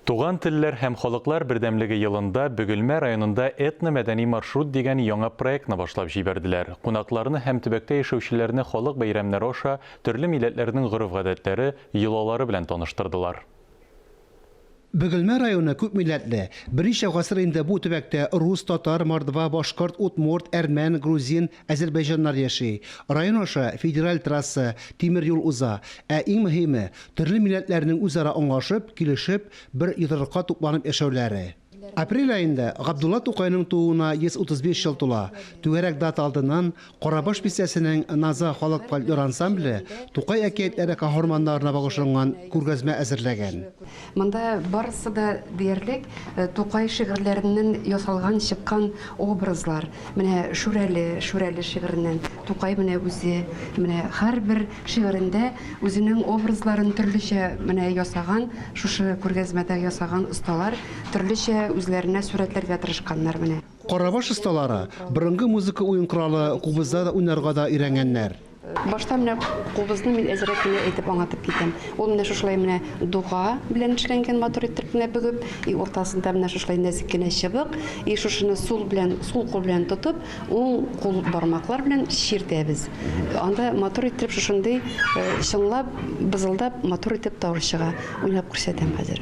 Туган телләр һәм халыклар бердәмлеге елында Бөгелмә районында Этно-мәдәни маршрут дигән яңа проектны башлап җибәрделәр. Кунакларны һәм төбәктә яшәүчеләрне халык бәйрәмнәре аша төрле милләтләрнең гореф-гадәтләре, йолалары белән таныштырдылар. Бөгелмә районы күпмилләтле. Берничә гасыр инде бу төбәктә рус, татар, мордва, башкорт, удмурт, әрмән, грузин, әзербәйҗаннар яши. Район аша федераль трасса, тимер юл уза. Ә иң мөһиме, төрле милләтләрнең үзара аңлашып, килешеп, бер йодрыкка тупланып яшәүләре. Апрель аенда Габдулла Тукайның тууына 135 ел тула. Түгәрәк дата алдыннан Карабаш бистәсенең Наза халык фольклор ансамбле Тукай әкиятләре каһарманнарына багышланган күргәзмә әзерләгән. Монда барысы да диярлек Тукай шигырьләреннән ясалган чыккан образлар. Менә Шүрәле, Шүрәле шигыреннән Тукай менә үзе, менә һәрбер шигырендә үзенең образларын төрлечә менә ясаган, шушы күргәзмәдә ясаган осталар төрлечә үзләренә сурәтләргә тырышканнар менә. Карабаш осталары борынгы музыка уен коралы кубызда да уйнарга да өйрәнгәннәр. Башта менә кубызны мин әзерәк кенә әйтеп аңлатып китәм. Ул менә шушылай менә дуга белән эшләнгән матур иттереп кенә бөгеп, и уртасында менә шушылай нәзек кенә чыбык, и шушыны сул белән, сул кул белән тотып, уң кул бармаклар белән чиртәбез. Анда матур иттереп шушындый чыңлап, бызылдап матур итеп тавыш чыга. Уйнап күрсәтәм хәзер.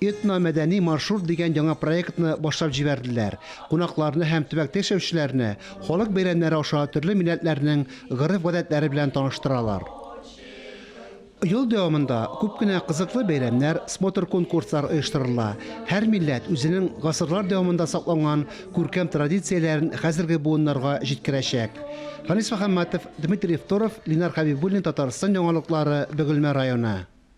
Этно-мәдәни маршрут дигән яңа проектны башлап җибәрделәр. Кунакларны һәм төбәктә яшәүчеләрне халык бәйрәмнәре аша төрле милләтләрнең гореф-гадәтләре белән таныштыралар. Ел дәвамында күп кенә кызыклы бәйрәмнәр, смотр-конкурслар оештырыла. Һәр милләт үзенең гасырлар дәвамында сакланган күркәм традицияләрен хәзерге буыннарга җиткерәчәк. Фанис Мөхәммәтов, Дмитрий Второв, Линар Хәбибуллин, Татарстан яңалыклары, Бөгелмә районы.